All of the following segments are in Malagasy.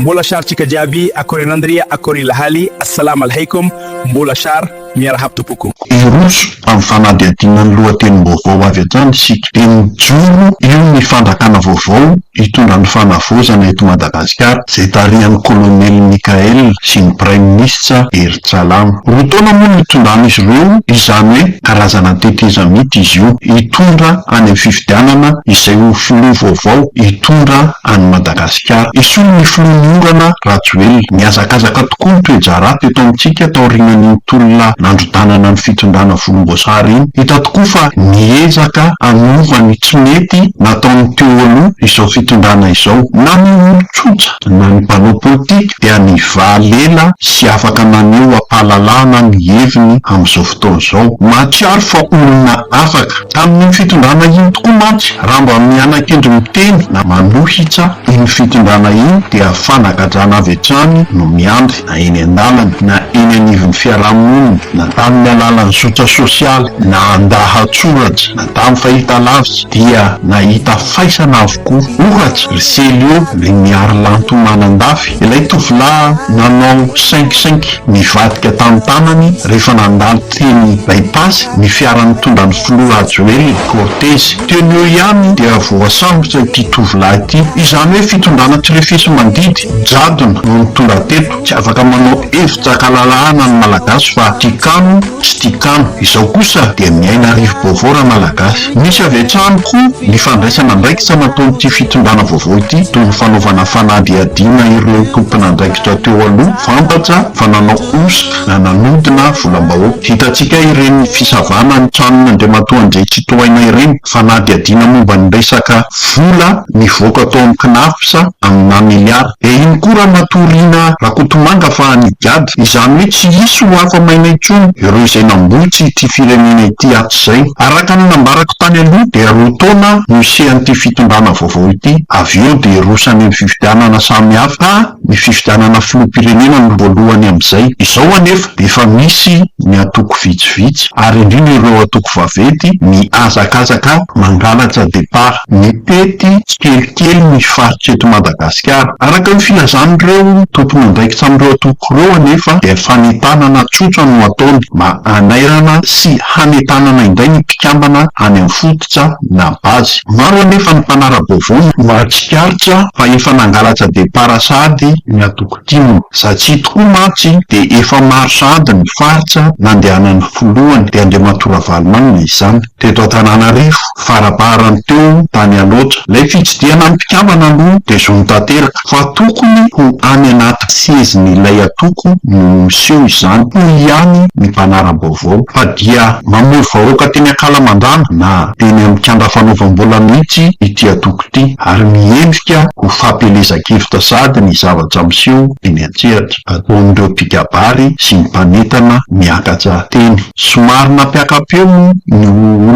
Mbola shar tsika jiaby akory anandria akory lahaly assalam alheikom mbola shar miarahab tompoko. Hiroso amin'ny fanadihadiana ny lohatenim-baovao avy hatrany isika. Dia mijoro eo ny fandrakana vaovao hitondra ny fanavaozana eto Madagasikara, izay tarihan'ny Kolonely Mickaël sy ny Praiminisitra Hery Tsalama. Roa taona moa no hitondran'izy ireo izany hoe karazana tetezamita izy io, hitondra any amin'ny fifidianana izay ho filoha vaovao hitondra an'i Madagasikara. Esory ny filohan'ny orana, Rajoelina. Nihazakazaka tokoa ny toe-draharaha teto amintsika taorianan'iny tolona nandrodanana ny fitondrana volomboasary iny. Hita tokoa fa niezaka hanova ny tsy mety nataon'ny teo aloha izao fitondrana izao. Na ny olon-tsotra na ny mpanao politika dia nivaly ela sy afaka naneho am-pahalalahana ny heviny amin'izao fotoana izao. Mahatsiaro fa olona afaka. Tamin'iny fitondrana iny tokoa mantsy, raha mba miana-kendry miteny na manohitsa iny fitondrana iny dia fanagajana avy hatrany no miandry na eny an-dalana na eny anivon'ny fiaraha-monina na tamin'ny alalan'ny zotra sosialy na an-dahatsoratra na tamin'ny fahitalavitra dia nahita faisana avokoa. Ohatra, ry Celio, ry Miarilanto Manandafy, ilay tovolahy nanao sainkisainky nivadika tamin'ny tanany rehefa nandalo Teny By-Pass ny fiara nitondra ny filoha Rajoelina, Cortez. Teny eo ihany dia voasambotra ity tovolahy ity. Izany hoe fitondrana tsy refesi mandidy, jadona, no nitondra teto. Tsy afaka manao hevi-jakalalahana ny Malagasy fa tia kamo tsy tia kano. Izao kosa dia miaina rivo-baovao Ramalagasy. Misy avy hatrany koa ny fandraisana andraikitra nataon'ity fitondrana vaovao ity toy ny fanaovana fanadihadiana ireo tompon'andraikitra teo aloha fantatra fa nanao hosoka. na nanodina volam-bahoaka. Hitantsika ireny fisavana ny tranon'ny Andriamatoa Andriantsitohaina ireny, fanadihadiana momba ny resaka vola nivoaka tao amin'ny Cnaps aminà miliara. Dia iny koa Ramatoa Rina Rakotomanga fa nigadra. Izany hoe tsy hisy ho afa-maina intsony ireo izay nambotsy ity firenena ity hatrizay. Araka ny nambarako tany aloha dia roa taona no hisehan'ity fitondrana vaovao ity, avy eo dia hiroso any amin'ny fifidianana samihafa. ny fifidianana filoham-pirenena no voalohany amin'izay. Izao anefa, efa misy ny antoko vitsivitsy, ary indrindra ireo antoko vaventy, mihazakazaka mangalatra départ. Mitety tsikelikely ny faritra eto Madagasikara. Araka ny filazan'ireo tompon'andraikitra amin'ireo antoko ireo anefa dia fanentanana tsotra no ataony, mba hanairana sy hanentanana indray ny mpikambana any amin'ny fototra, na base. Maro anefa ny mpanara-baovao no mahatsikaritra fa efa nangalatra depart sahady ny antoko tim. Zatsy tokoa mantsy dia efa maro sahady ny faritra nandehanan'ny filohany, dia Andriamatoa Ravalomanana izany, teto Antananarivo, faraparany teo tany Alaotra. Ilay fitsidihana ny mpikambana aloha dia zony tanteraka. Fa tokony ho any anaty sezin'ilay antoko no miseho izany, hoy ihany ny mpanara-baovao, fa dia mamory vahoaka teny Ankalamanjana na teny amin'ny kianja fanaovam-bola mihitsy ity antoko ity, ary miendrika ho fampielezan-kevitra sahady ny zavatra miseho eny an-tsehatra, ataon'ireo mpikabary sy ny mpanentana miakatra teny. Somary nampiaka-peo moa ny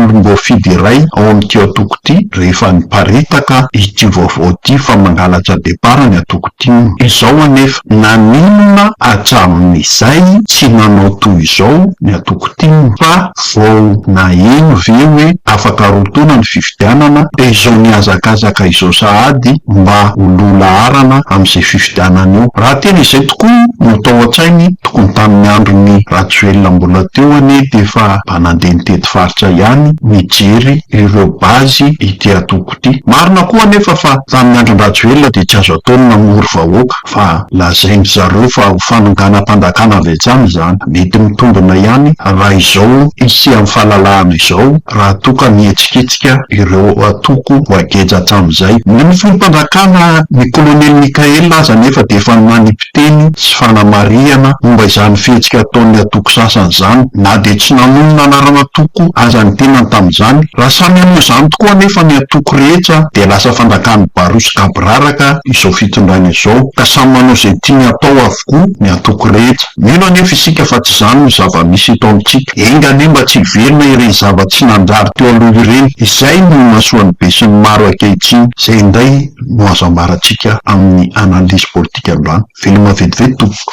olom-boafidy iray ao amin'ity antoko ity rehefa niparitaka ity vaovao ity fa mangalatra depart ny antoko tim. Izao anefa, naninona hatramin'izay tsy nanao toy izao ny antoko tim? Fa vao naheno ve hoe afaka roa taona ny fifidianana? fifidianana dia izao mihazakazaka izao sahady mba ho lo laharana amin'izay fifidianana io. Raha tena izay tokoa no tao an-tsainy, tokony tamin'ny andron'i Rajoelina mbola teo anie dia efa mba nandeha nitety faritra ihany nijery ireo base ity antoko ity. Marina koa anefa fa tamin'ny andron-dRajoelina dia tsy azo atao ny namory vahoaka. fa lazain-dry zareo fa ho fanonganam-panjakana avy hatrany izany. Mety mitombina ihany raha izao hisian'ny fahalalahana izao raha toa ka mihetsiketsika ireo antoko voageja hatramin'izay. Ny Mifono-panjakana, ny Kolonely Mickaël aza anefa dia efa nanipy-teny sy fanamarihana momba izany fihetsika ataon'ny antoko sasany izany, na dia tsy nanonona anaran'antoko aza ny tenany tamin'izany. Raha samy hanao izany tokoa anefa ny antoko rehetra dia lasa fanjakan'ny Baro sy Gabo. biraraka izao fitondrana izao ka samy manao izay tiany hatao avokoa ny antoko rehetra. Mino anefa isika fa tsy izany no zava-misy eto amintsika. Enga anie mba tsy hiverina ireny zava-tsy nanjary teo aloha ireny. Izay no imasoan'ny besinimaro ankehitriny, izay indray no azo ambaratsika amin'ny analyse politika androany. Veloma vetivety tompoko.